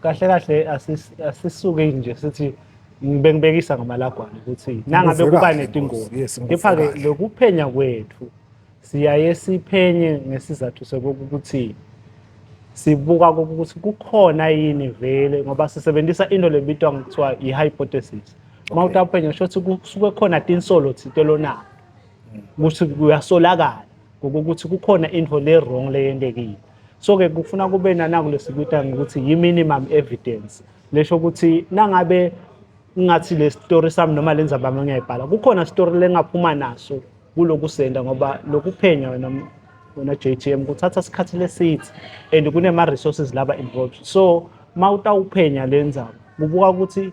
kahle kahle asisuke nje sithi bengibekisa ngamalagwana ukuthi nangabe kuba netingozi kepha-ke lokuphenya kwethu siyaye siphenye ngesizathu sokokuthi sibuka ukuthi kukhona yini vele ngoba sisebenzisa into lebitwa ngokuthiwa i-hypothesis uma uthi aphenya kusho ukuthi kusuke khona tinsolo thinte lonayo ukuthi uyasolakala ngokuthi kukhona into le-wrong leyendekile so ke kufuna kube nanaku lesikuta ngokuthi yi minimum evidence lesho ukuthi nangabe ngathi le story sami noma lenza bami ngiyayibhala kukhona story lengaphuma naso kulokusenda ngoba lokuphenya wena wena JTM kuthatha isikhathi lesithi and kunema resources laba involved so mawutawuphenya lenzaba kubuka ukuthi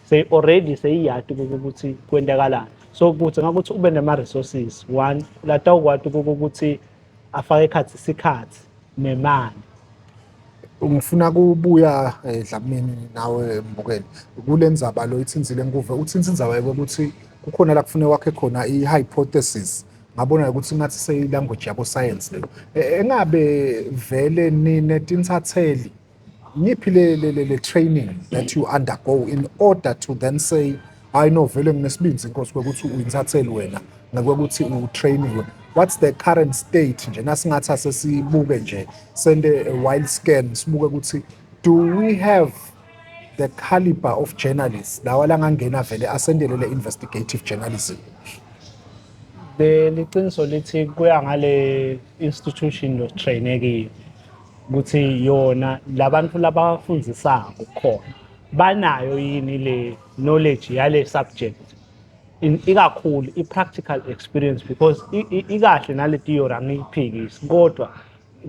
seyi already seyiyati ukuthi kwentekalani so kuthi ngakuthi ube nema resources one lata ukwati ukuthi afake ikhathi isikhathi nemali ngifuna kubuya eh, Dlamini nawe Mbukeni kule ndzaba lo ithinzile nkuve uthinta indzaba yokuthi kukhona la kufune wakhe khona i-hypothesis ngabona ukuthi ngathi seyi-language yabo science leyo e, engabe vele nine tinsatheli yiphi le le le training that you undergo in order to then say hayi no vele nginesibindi inkosi kwekuthi uyintatheli wena nakwekuthi utrainiwe what's the current state nje nasingathi asesibuke nje sende a wild scan sibuke ukuthi do we have the caliber of journalists lawa langangena vele asendele le investigative journalism leliqiniso lithi kuya ngale institution lo trainekile ukuthi yona labantu labafundisayo khona banayo yini le knowledge yale subject ikakhulu i-practical experience because ikahle nale theory angiyiphikisi kodwa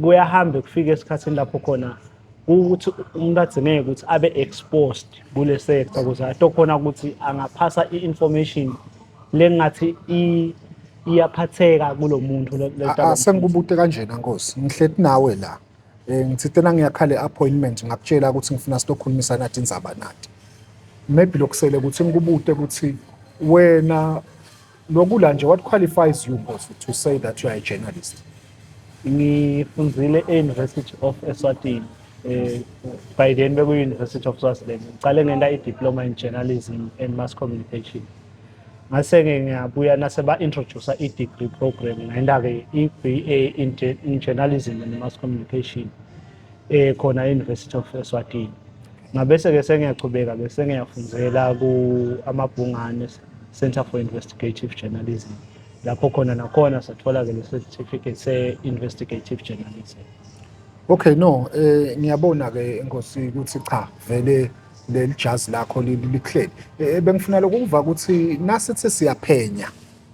kuyahamba kufika esikhathini lapho khona ukuthi umuntu agcineke ukuthi abe exposed kule sector ukuze atokhona ukuthi angaphasa i-information lengathi iyaphatheka kulo muntu sengikubute kanjena nkosi ngihleti nawe la um ngithi tena ngiyakhala i-appointment ngakutshela ukuthi ngifuna silokhulumisa nathi inzaba nathi maybe lokusele ukuthi ngikubute ukuthi wena lokula nje what qualifies you nkosi to say that you are a journalist ngifunzile e-university of eswatini um by then beku-university of swaziland ngiqale ngenta i-diploma in journalism and mass communication Ngase-ke ngiyabuya nase ba-introduce i-degree program ngayinda-ke i-BA in, in journalism and mass communication eh khona e-University of Eswatini ngabese-ke sengiyachubeka bese ngiyafundzela ku-amabhungane Center for Investigative Journalism lapho khona nakhona sathola-ke le-certificate se-investigative journalism okay no eh ngiyabona-ke nkosi ukuthi cha vele leli jazi lakho lihleli eh, bengifuna lokuva ukuthi nasithi siyaphenya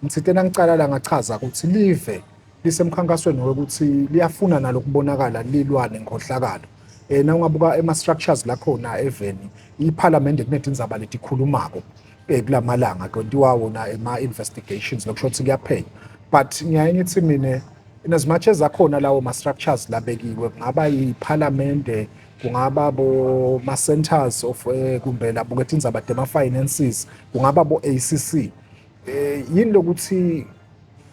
ngithintena ngicala la ngachaza ukuthi live lisemkhankasweni wokuthi liyafuna nalo kubonakala lilwane ngohlakalo eh na ungabuka ema structures la khona eveni iparliament kunedinzaba letikhulumako eh kulamalanga kontiwa wona ema investigations lokusho ukuthi kuyaphenya but ngiyaye ngithi mina in as much as akhona lawo ma structures labekiwe kungaba iparliament kungaba boma-centers of eh, kumbe labo ngethi indzaba dema-finances kungaba bo-a c c um eh, yini lokuthi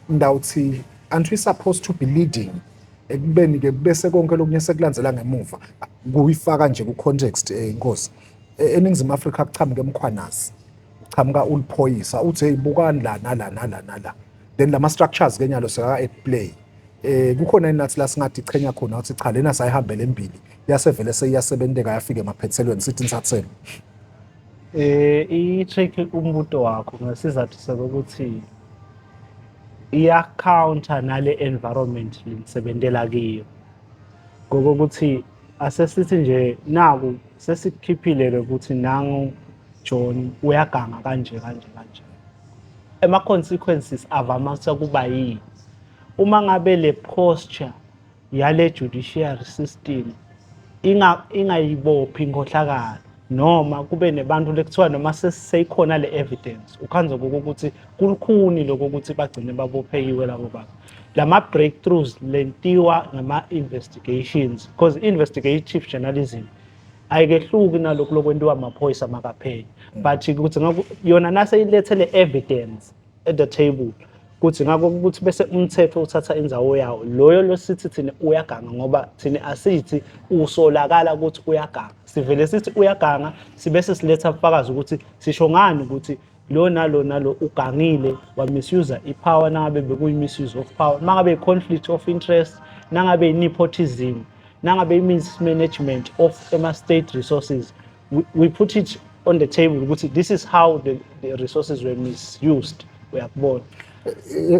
ndawuthi aren't we supposed to be leading ekubeni-ke bese konke lokunye sekulandzela ngemuva kuyifaka nje ku-context um inkosi eningizimu afrika kuchamuka emkhwanazi uchamuka uliphoyisa uthi heyi bukani la nala nala nala then lama structures ke nyalo seka at play eh kukhona inathi la singathi ichenya khona ukuthi cha lena sayihambele embili yasevele seyiyasebenteka yafika emaphethelweni sithi nsathelo eh i-trick umbuto wakho ngesizathu sokuthi iya counter nale environment lisebenzela kiyo ngokuthi asesithi nje naku sesikhiphile ukuthi nangu John uyaganga kanje kanje kanje ama-consequences avamisa kuba yini uma ngabe le posture yale judiciary system ingayibophi inkohlakalo noma kube nebantu lekuthiwa noma seyikhona le evidence ukhanze ukuthi kulukhuni lokho ukuthi bagcine babophekiwe labo bantu lama breakthroughs lentiwa ngama investigations because investigative journalism ayikehluki nalokhu lokwentiwa amaphoyisa makapheli mm. but ukuthi yona naseyilethele evidence at the table kuthi ngakho ukuthi bese umthetho uthatha inzawo yawo loyo losithi thina uyaganga ngoba thina asithi usolakala ukuthi uyaganga sivele sithi uyaganga sibese siletha ubufakazi ukuthi sisho ngani ukuthi lo nalo nalo ugangile wamisuser ipower nangabe bekuyi-misuse of power mangabe i-conflict of interest nangabe i-nepotism nangabe i-mismanagement of ama-state resources we, we put it on the table ukuthi this is how the, the resources were misused uyakubona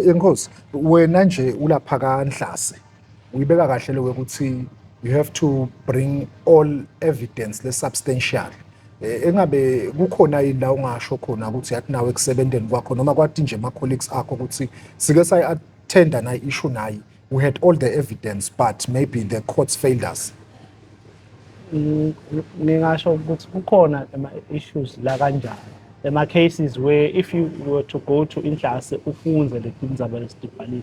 inkosi wena nje ulapha kanhlase uyibeka kahle leyo ukuthi you have to bring all evidence le substantial eh, engabe kukhona yini la ungasho khona ukuthi yathi nawe ekusebenzeni kwakho noma kwathi nje ama colleagues akho ukuthi sike sayi attenda na issue nayi we had all the evidence but maybe the courts failed us ningasho ukuthi kukhona ama issues la kanjani ema cases where if you were to go to inhlase ufunze le tindzaba lesitibhalile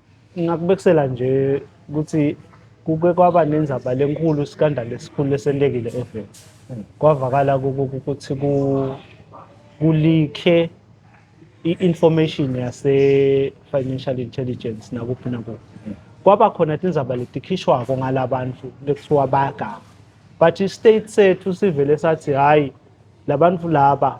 Ngingakubekisela nje ukuthi kuke kwaba nenzaba lenkulu iskandalo esikhulu lesentekile eveni kwavakala ukuthi kulikhe i-information yase-financial intelligence nakuphi nakuphi kwaba khona tindzaba letikhishwako ngala bantu lekuthiwa bayaganga but i-state sethu sivele sathi hhayi la bantu laba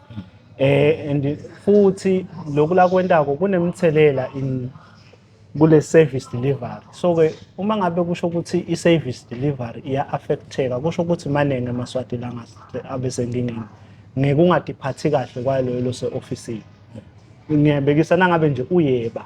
eh and futhi lokula kwentako kunemthelela in kule service delivery so ke uma ngabe kusho ukuthi i service delivery iya affecteka kusho ukuthi maningi amaswati la abesengingeni ngekungadiphathi kahle kwaloyo lose office ngiyabekisa nangabe nje uyeba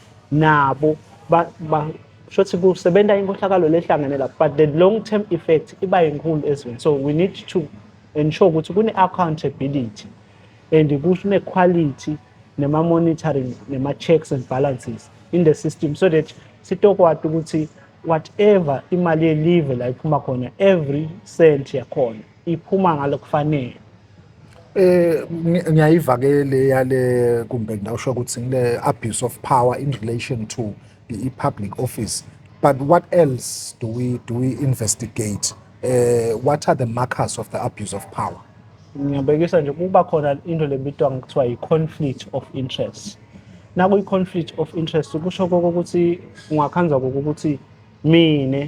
nabo ba, ba shothi kusebenza inkohlakalo lehlangene lapho but the long term effect iba inkulu ezweni so we need to ensure ukuthi kune-accountability and kune-quality nema-monitoring nema-checks and balances in the system so that sitokwati ukuthi whatever imali yelive la iphuma khona every cent yakhona iphuma ngalokufanele eh ngiyayiva ke le yale kumbe ngawusho ukuthi ngile abuse of power in relation to i public office but what else do we do we investigate eh what are the markers of the abuse of power ngiyabekisa nje kuba khona into lebitwa ngokuthiwa yi-conflict of interest nakuyi-conflict of interest kusho kokuthi ungakhanza kokuthi mina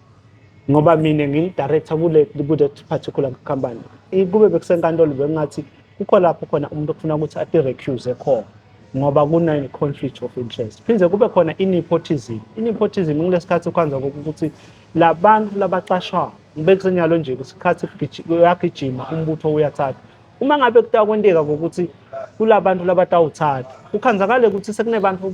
ngoba mina ngiyi-director kule ku-that particular company kube bekusenkantolo bekungathi kukho lapho khona umuntu okufuna ukuthi ati-recuse khona ngoba kune-conflict of interest phinde kube khona i-nepotism i-nepotism kulesi khathi ukwanza ukuthi la bantu labacashwayo bekusenyalo nje isikhathi uyagijima umbutho uyathatha uma ngabe kutakwenteka ngokuthi kula bantu labatawuthatha kukhanzakale ukuthi sekunebantu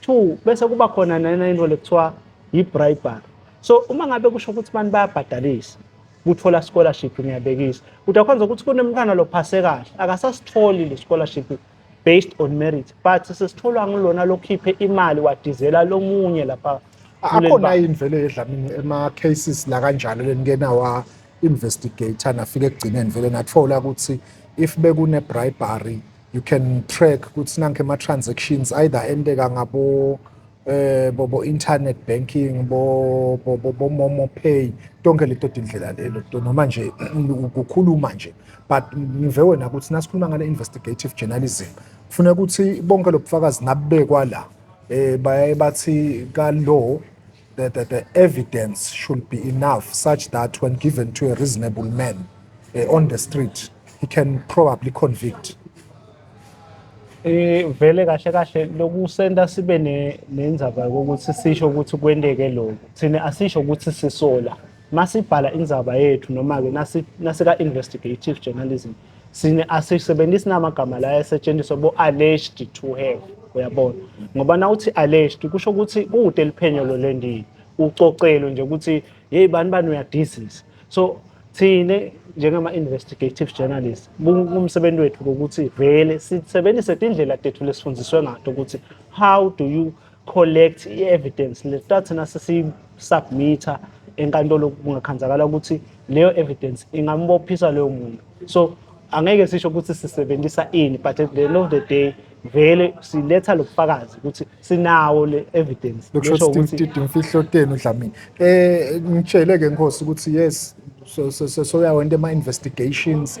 Two, bese kuba khona nena into lekuthiwa yi-bribery. So uma ngabe kusho ukuthi abantu bayabhadalisa kuthola scholarship ngiyabekisa. Udakhonza ukuthi kunemntwana lophase kahle akasasitholi le scholarship based on merit but sesitholwa ngulona lokhiphe imali wadizela lomunye lapha akhona yini vele yedlamini ema-cases la kanjalo lenikenawa investigator nafike ekugcineni vele nathola ukuthi if bekune-bribery you can track ukuthi nanke ama transactions either endeka ngabo eh bo, bo internet banking bo bo, bo, bo momo pay tonke leto tindlela lelo to noma nje ukukhuluma nje but ngive wena ukuthi nasikhuluma ngale investigative journalism kufuna ukuthi bonke lobufakazi nabekwa la eh baye bathi ka law The, the, the evidence should be enough such that when given to a reasonable man uh, on the street, he can probably convict. Eh vele kahle kahle lokusenta sibe nenzaba ukuthi sisho ukuthi kwenteke lokho. Thina asisho ukuthi sisola. Masibhala inzaba yethu noma ke nasika investigative journalism sine asisebenzisi namagama la esetshenziswa bo alleged to have uyabona ngoba na uthi alleged kusho ukuthi kude liphenyo lo lendini ucocelo nje ukuthi hey bani bani uyadizisa so thina njengama investigative journalist kumsebenzi wethu ukuthi vele sisebenzise indlela tethu lesifundiswe ngato ukuthi how do you collect i-evidence lesihlala thina sesiyisubmitha enkantolo kungakhanzakala ukuthi leyo evidence ingambophisa leyo muntu so angeke sisho ukuthi sisebenzisa ini but at the end of the day vele siletha lobufakazi ukuthi sinawo le evidence lokusho ukuthi imfihlo tenu Dlamini eh ngitshele ke nkosi ukuthi yes so so so soyawa into ema investigations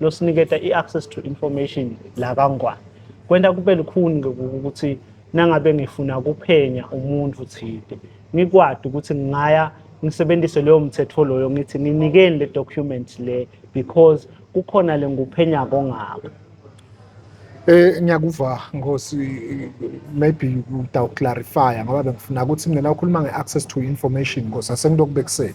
losiniketa i-access to information la kaNgwane kwenta kube lukhuni-ke ukuthi nangabe ngifuna kuphenya umuntu thide ngikwadi ukuthi ngingaya ngisebenzise leyo mthetho loyo ngithi ninikeni le document le because kukhona le nguphenya kongako Eh ngiyakuva Nkosi maybe uta clarify ngoba bengifuna ukuthi mina ukhuluma ngeaccess to information Nkosi asengilokubekisela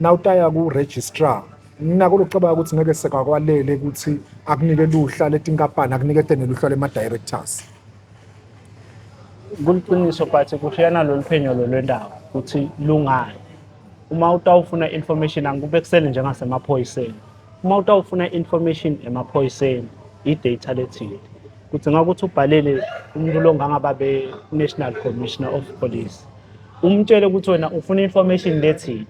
Nawutaya ku-registrar nako lokucabanga ukuthi ngeke sekakwalele ukuthi akunike luhla letinkampani akunike tene luhla lema-directors kuliqiniso but kushiyana lolu phenyo lolwendawo ukuthi lungani uma utawufuna information angikube kusele njengasemaphoyiseni uma utawufuna information emaphoyiseni i-data lethile kudzinga ukuthi ubhalele umuntu longangaba be-national commissioner of police umtshele ukuthi wena ufuna information lethile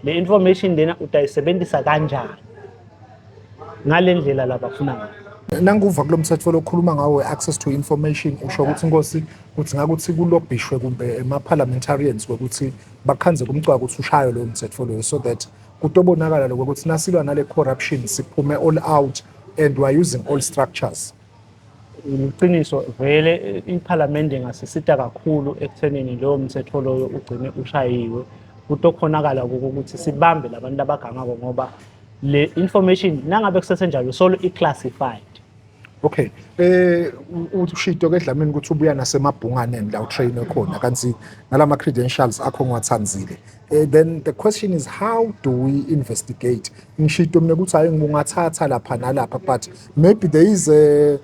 le information lena utayisebenzisa kanjani ngale ndlela labafuna ngayo nanguva kulo mthetho lokhuluma ngawo we-access to information usho ukuthi inkosi kuthi ngakuthi kulobhishwe kumbe ema-parliamentarians kwekuthi bakhanze kumcwaka ukuthi ushayo loyo mthetho loyo so that kutobonakala lokwekuthi nasilwa nale corruption siphume all out and weare using all structures Iqiniso vele iPhalamende ingasisita kakhulu ekuthenini lowo mthetho loyo ugcine ushayiwe ukuthi okhonakala ukuthi sibambe labantu abagangako ngoba le information nangabe kusesenjalo solo i-classified okay eh ushito ke dlamini ukuthi ubuya nasemabhunganeni la utrain khona kanti nalama credentials akho ngiwathandile Eh, then the question is how do we investigate ngishito mina ukuthi hayi ngungathatha lapha nalapha but maybe there is a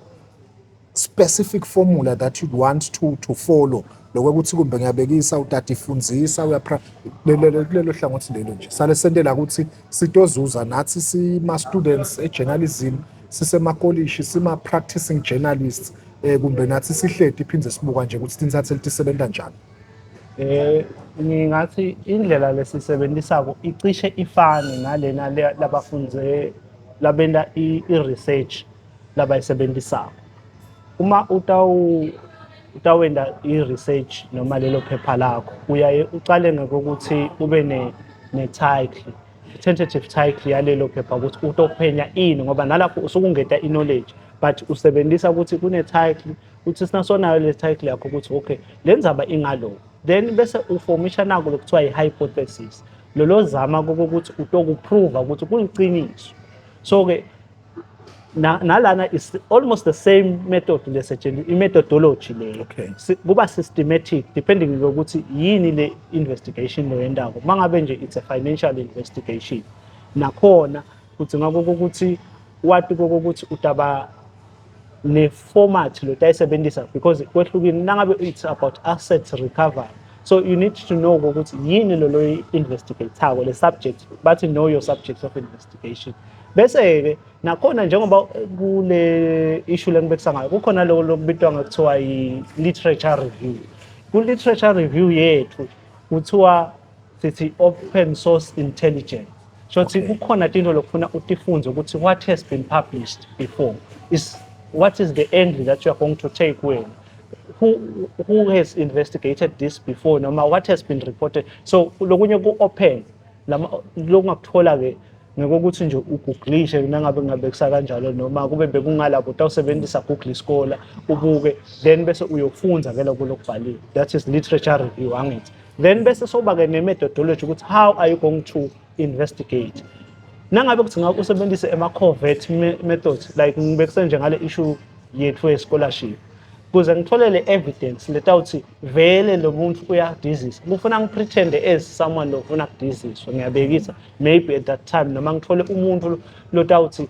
specific formula that you'd want to to follow lokho ukuthi kumbe ngiyabekisa utata ifundisa uyapra kulelo hlangothi lelo nje sale sentela ukuthi sitozuza nathi sima students ejournalism sisemakolishi sima practicing journalists eh kumbe nathi sihleti iphinde sibuka nje ukuthi tinsatheli tisebenza njani Eh ngingathi indlela lesisebenzisako icishe ifane nalena labafunde labenta i-research labayisebenzisako. Uma utawu utawenda i-research noma lelo phepha lakho uyaye ucale ngokuthi ube ne-title tentative title yalelo phepha ukuthi utophenya ini ngoba nalapho usuke ungeta i-knowledge but usebenzisa ukuthi kune-title uthi sina sonayo le title yakho ukuthi okay le ndzaba ingalo then bese uformisha nako lokuthiwa i-hypothesis lolo zama kokuthi utokuprova ukuthi kuliqiniso so-ke nalana is almost the same method lesetshenziswa i-methodology leyo okay. si, kuba systematic depending ngokuthi yini le investigation leyo yendawo uma ngabe nje it's a financial investigation nakhona kudzinga kokuthi wati kokuthi utaba le format lo tayisebenzisa because kwehlukile nangabe it's about assets recovery so you need to know ukuthi yini lo lo investigatako le subject bathi know your subject of investigation bese-ke nakhona njengoba kule issue lengibekisa ngayo kukhona loko lokubitwa ngakuthiwa yi-literature review ku-literature review yethu kuthiwa sithi open source intelligence shothi okay. kukhona tinto lokufuna utifunze ukuthi what has been published before is what is the angle that you are going to take wena who who has investigated this before noma what has been reported so lokunye ku open lama lokungakuthola ke ngekokuthi nje uguglishe nangabe ngabe kusakanjalo noma kube bekungalapho utawusebenzisa google iskola ubuke then bese uyofunza ke lokho lokubhaliwe that is literature review angithi then bese soba ke ne methodology ukuthi how are you going to investigate nangabe kuthi ngakho usebenzise ema covert methods like ngibekuse nje ngale issue yethu ye scholarship kuze ngitholele evidence letawuthi vele lo muntu uyadizisa kufuna ngipretende as someone lofuna kudiziswa ngiyabekisa maybe at that time noma ngithole umuntu lotawuthi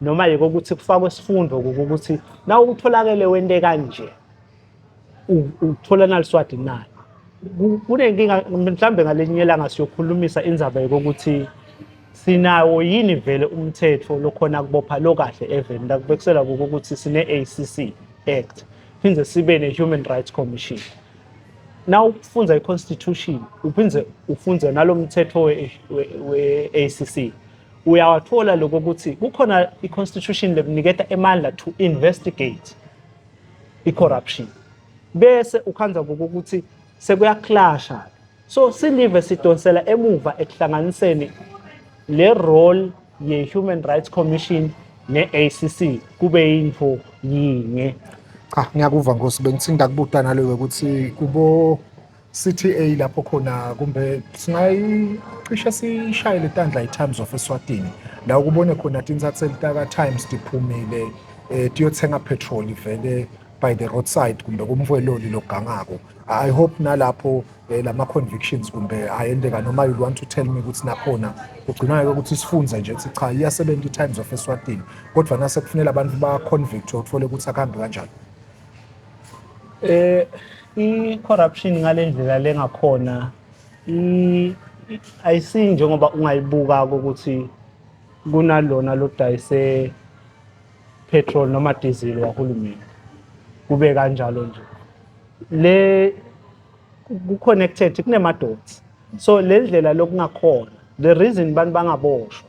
noma yiko ukuthi kufakwe isifundo ukuthi na utholakele wente kanje uthola naliswadi na kunenkinga mhlawumbe ngalenye ilanga siyokhulumisa indzaba yokuthi sinawo yini vele umthetho lokhona kubopha lo kahle even lakubekisela ukuthi sine-acc act phinde sibe ne-human rights commission na ufunza i-constitution uphinde ufunze nalo mthetho we-acc uyawathola lokho ukuthi kukhona i-constitution lekuniketa emandla to investigate i-corruption bese ukhanza kokuthi sekuyaklasha so silive sidonsela emuva ekuhlanganiseni le role ye-human rights commission ne-acc kube yinto yinye cha ngiyakuva nkosi bengithinda kubuta naloyo ukuthi kubo CTA lapho khona kumbe singayicishe sishayele tandla i-Times of Eswatini la ukubone khona tintsatse litaka Times tiphumile eh tiyothenga petrol vele by the roadside kumbe kumfweloli logangako i hope nalapho eh, lama convictions kumbe ayendeka noma you want to tell me ukuthi nakhona kugcina ke ukuthi sifunze nje ukuthi cha iyasebenza i-Times of Eswatini kodwa nase kufanele abantu ba convict uthole ukuthi akuhambi kanjani Eh i corruption ngalendlela lengakhona i ayisi njengoba ungayibuka ukuthi kunalona lodayise petrol noma diesel wahulumeni kube kanjalo nje le ku-connected kunema-dots so le ndlela lokungakhona the reason abantu bangaboshwa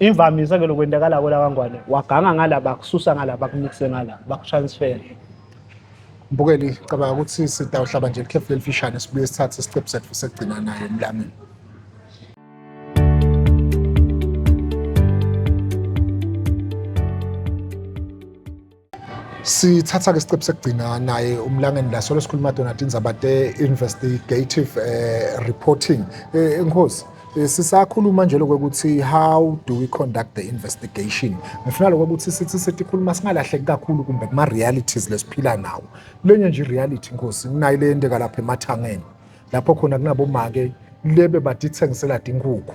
Imvamisa ke lokwendakala kola kangwane waganga ngala bakususa ngala bakunikise ngala bakutransfer. Mbukeli cabanga ukuthi sitawuhlaba nje ikhefu lelifishane sibuye sithathe isiqephu sethu sekugcina naye emlamini. sithatha-ke isiqephu sekugcina naye umlangeni la solo sikhuluma donati indzaba te-investigative um reporting um eh, enkosi eh, sisakhuluma nje lokho ukuthi how do we conduct the investigation ngifuna lokho ukuthi sithi setikhuluma singalahleki kakhulu kumbe kuma-realities lesiphila nawo lenye nje i-reality nkosi nginayo le yenteka lapha emathangeni lapho khona kunabomake lebe badithengisela tinkukhu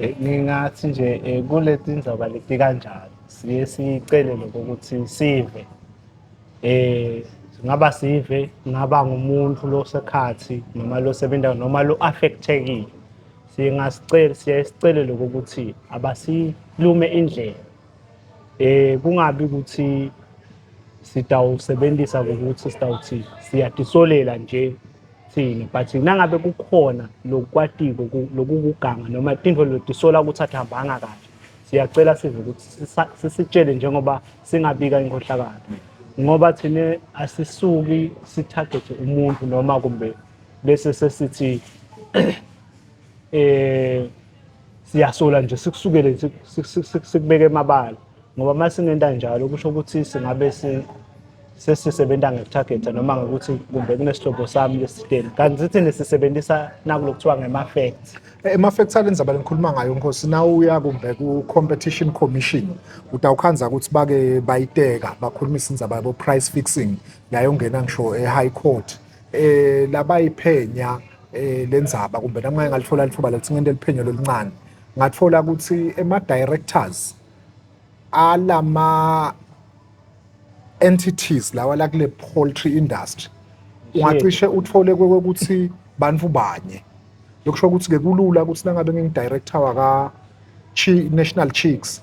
Eh, ngingathi nje eh, kule tindaba leti kanjalo siye sicele lokho ukuthi sive eh ngaba sive ngaba ngumuntu losekhathi noma losebenza noma lo affectekile singasicela siye sicele lokho ukuthi abasilume indlela eh kungabi ukuthi sitawusebenzisa ukuthi sitawuthi siyadisolela nje thini but nangabe kukhona lokwatiko lokukuganga noma tintfo lotisola ukuthi atihambanga kahle siyacela sive ukuthi sisitshele njengoba singabika inkohlakalo ngoba thina asisuki sithagethe umuntu noma kumbe bese sesithi eh siyasola nje sikusukele nje sikubeke emabala ngoba uma singenta njalo kusho ukuthi singabe sesisebenza ngetarget noma ngokuthi kumbe kunesihlobo sami lesideni kanti sithi nesisebenzisa nakulo kuthiwa ngema-facts ema-facts ale ndzaba lengikhuluma ngayo nkosi na uya kumbe ku-competition commission utawukhandza ukuthi bake bayiteka bakhulumisa indzaba yabo-price fixing yayongena ngisho e-high court eh labayiphenya eh lenzaba kumbe nami ngake ngalithola lithuba lokuthi ngente liphenyo loluncane ngathola ukuthi ema directors alama entities lawa la kule poultry industry ungacishe uthole kwekuthi bantu banye lokusho ukuthi ke kulula ukuthi nangabe ngingidirector waka National Chicks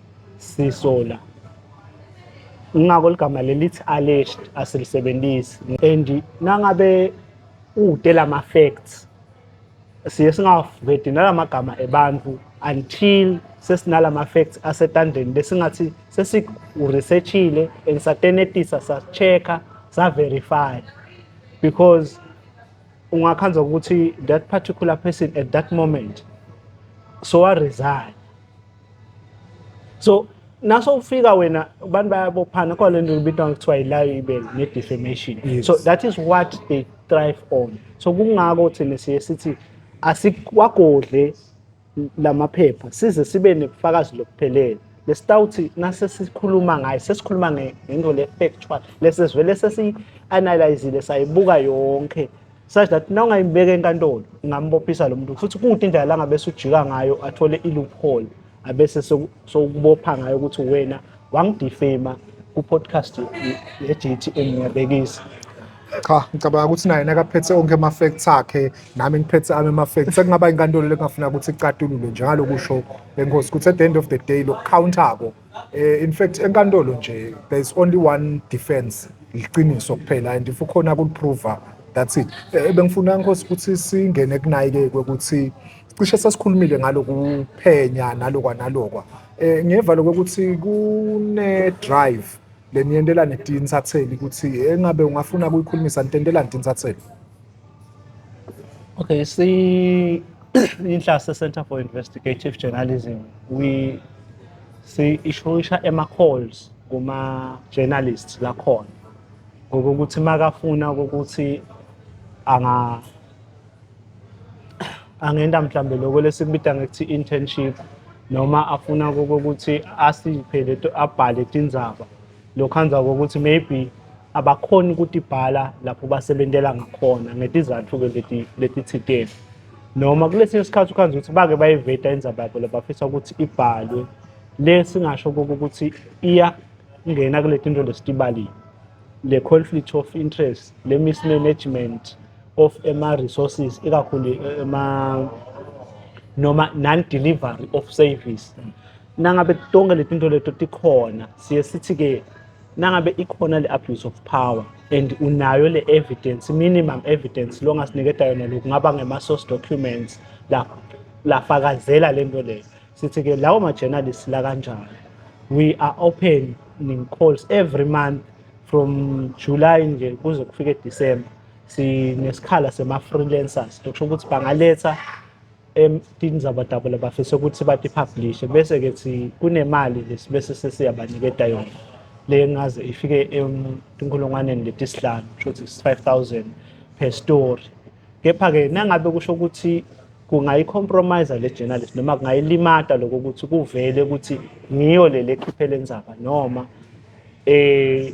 sisola ngako ligama lelithi alleged asilisebenzisi and nangabe ude lama facts siye singavedi nalamagama ebantu until sesinalama facts asetandeni besingathi sesiresearchile and satenetisa sa-check-a sa-verify because ungakhanza ukuthi that particular person at that moment so wa-resign so naso ufika wena abantu bayabophana khona lento ibitwa ngokuthiwa yi-libel ne-defamation yes. so that is what they thrive on so kungako thina siye sithi asikwagodle lamaphepha size sibe nebufakazi lokuphelele lesitawuthi nase sikhuluma ngayo sesikhuluma ngento le-factual lesesivele sesiyi-analyzile sayibuka yonke such that nawungayibeka enkantolo ungambophisa lo muntu futhi kude indlela la ngabe sujika ngayo athole i-loophole abese sokubopha ngayo ukuthi wena wangidifema ku-podcast ye-GTM ngiyabekisa cha ngicabanga ukuthi naye nakaphethe onke ama-facts akhe nami ngiphethe ami ama-facts sekungaba inkantolo lekungafuna ukuthi icatulule njengalokusho lenkosi ukuthi at the end of the day lokukhawuntako Eh, in fact enkantolo nje there is only one defense liqiniso kuphela and if ukhona kuliprova that's it eh, bengifuna nkosi ukuthi singene kunayikekwe ukuthi cishe sesikhulumile ngaloku phenya nalokwa nalokwa eh ngiyevalo ukuthi kune drive leniyendelane tinsatheli ukuthi engabe ungafuna kuyikhulumisa ntendelane tinsatheli Okay, see inhlase Center for Investigative Journalism we si ishoyisha ema calls kuma journalists lakhona ngokuthi makafuna ukuthi anga angenda mhlambe lokho lesikubita ngokuthi internship noma afuna ukuthi asiphe leto abhale tindzaba lokhanza kokuthi maybe abakhoni ukuthi ibhala lapho basebentela ngakhona ngetizathu-ke leti letithiteni noma kulesinye isikhathi ukhanza ukuthi bake bayiveta indzaba yabo labafisa ukuthi ibhalwe le singasho kuko ukuthi iyangena kule tinto lesitibalile le conflict of interest le mismanagement of ema-resources ikakhulu ema noma non-delivery of service nangabe tonke letinto leto tikhona siye sithi ke nangabe ikhona le abuse of power and unayo le evidence minimum evidence longasiniketa yona lokhu ngaba ngema source documents la lafakazela lento leyo sithi ke lawo ma journalists la kanjani we are open ning calls every month from July nje kuze kufike December sinesikhala sema freelancers lokusho ukuthi bangaletha emtini zabadabula bafisa ukuthi batipublishe bese ke si kunemali lesi bese sesiyabaniketa yona le ngaze ifike etinkulungwaneni letisihlanu kusho ukuthi 5000 per story kepha ke nangabe kusho ukuthi kungayicompromise le journalist noma kungayilimata lokho ukuthi kuvele ukuthi ngiyo le lekhiphe lenzaba noma eh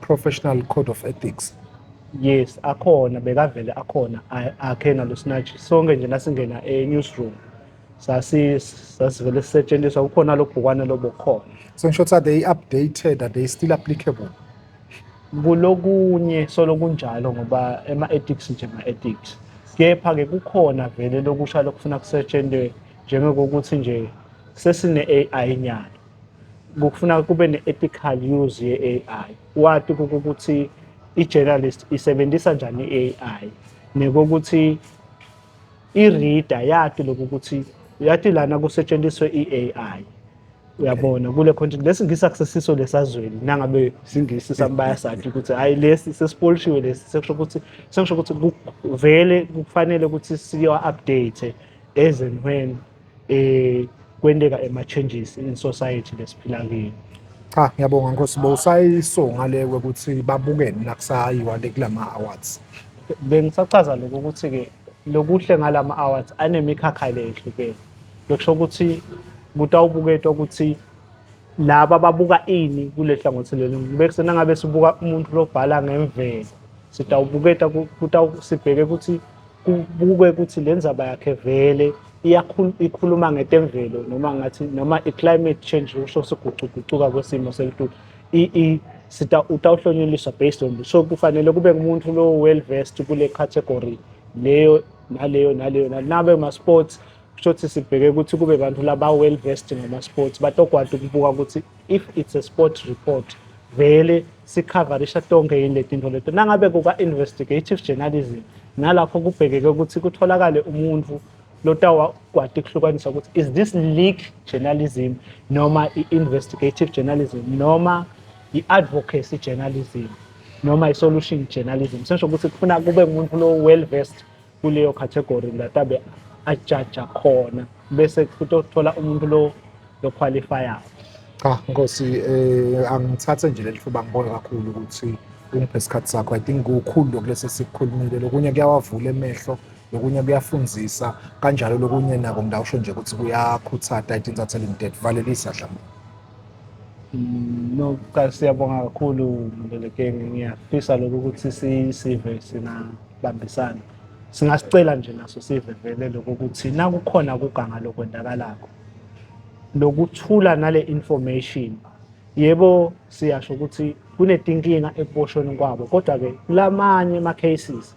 professional code of ethics yes akhona bekavele akhona akhe nalo snatch sonke nje nasingena e-newsroom sasi sasivele sisetshenziswa kukhona lo bhukwana lobokhona so in short are they updated are they still applicable kulokunye solo kunjalo ngoba ema-ethics nje ma-ethics kepha-ke kukhona vele lokusha lokufuna kusetshentwe njengokokuthi nje sesine-ai nyalo kufuna kube ne-ethical use ye-AI wati ukuthi i-journalist isebenzisa njani i-AI nekokuthi i-reader yati lokhu ukuthi yati lana kusetshenziswe i-AI uyabona kule content lesi ngisi akusesiso lesazweni nangabe singisi sambaya sathi ukuthi hayi lesi sesipolishiwe lesi sekusho ukuthi sekusho ukuthi vele kufanele ukuthi siyo update as and when eh kwenteka ema changes in society lesiphila kiyo cha ngiyabonga nkosi bo usayisonga le ukuthi babukene la kusayiwa le kulama awards bengisachaza lokho ukuthi ke lokuhle ngalama awards anemikhakha le ehlukene lokusho ukuthi kutawubuketwa ukuthi laba babuka ini kule hlangothi leli bekusena ngabe sibuka umuntu lobhala ngemvelo sitawubuketa sibheke ukuthi kubukwe ukuthi le ndzaba yakhe vele ikhuluma ngetemvelo noma ngathi noma i-climate change usho sigucugucuka kwesimo selitulu sita utawuhlonyeliswa based on so kufanele kube ngumuntu lo well versed kule category leyo naleyo naleyo nabe ma-sports kusho ukuthi sibheke ukuthi kube bantu laba well versed ngama-sports batokwati ukubuka ukuthi if it's a sport report vele sikhavarisha tonke yini letinto leto nangabe kuka investigative journalism nalapho kubhekeke ukuthi kutholakale umuntu lotawakwati kuhlukanisa ukuthi is this leak journalism noma i-investigative journalism noma i-advocacy journalism noma i-solution journalism sesho ukuthi kufuna kube umuntu lo well versed kuleyo category that abe ajaja khona bese futhi othola umuntu lo loqualifier cha nkosi eh angithathe nje leli thuba ngibona kakhulu ukuthi ungiphe isikhathi sakho i think kukhulu lokulesi sikukhulumile lokunye kuyawavula emehlo lokunye kuyafundisa kanjalo lokunye nako ngidawusho nje ukuthi kuyakhuthata i think thatha limited valelisa dlamini Nokuqala siyabonga kakhulu Mlelekenge, ngiyafisa lokhu ukuthi sisive singabambisana. Singasicela nje naso sive vele lokho ukuthi nakukhona kuganga lokwendakalakho lokuthula nale information yebo siyasho ukuthi kunetinkinga ekuboshweni kwabo kodwa-ke kulamanye ama-cases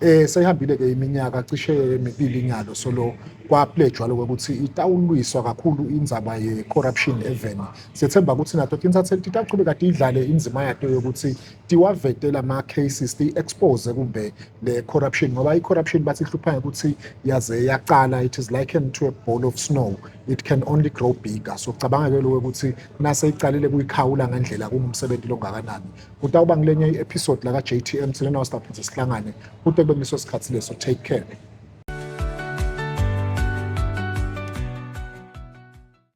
Eh seyihambile ke iminyaka cishe emibili nyalo solo kwapledjwa lokho ukuthi itawulwiswa kakhulu indzaba ye corruption eveni. Sethemba ukuthi nato tintsatse titachubeka tidlale indzima yato yokuthi tiwavetela ama cases ti expose kumbe le corruption ngoba i corruption bathi hlupha ukuthi yaze yaqala it is likened to a ball of snow it can only grow bigger so cabanga ke lokho ukuthi nase iqalile kuyikhawula ngendlela kungumsebenzi longakanani. kutawuba ngilenye i-episode laka JTM sine nawo siphinde sihlangane kute kube ngiso sikhathi leso take care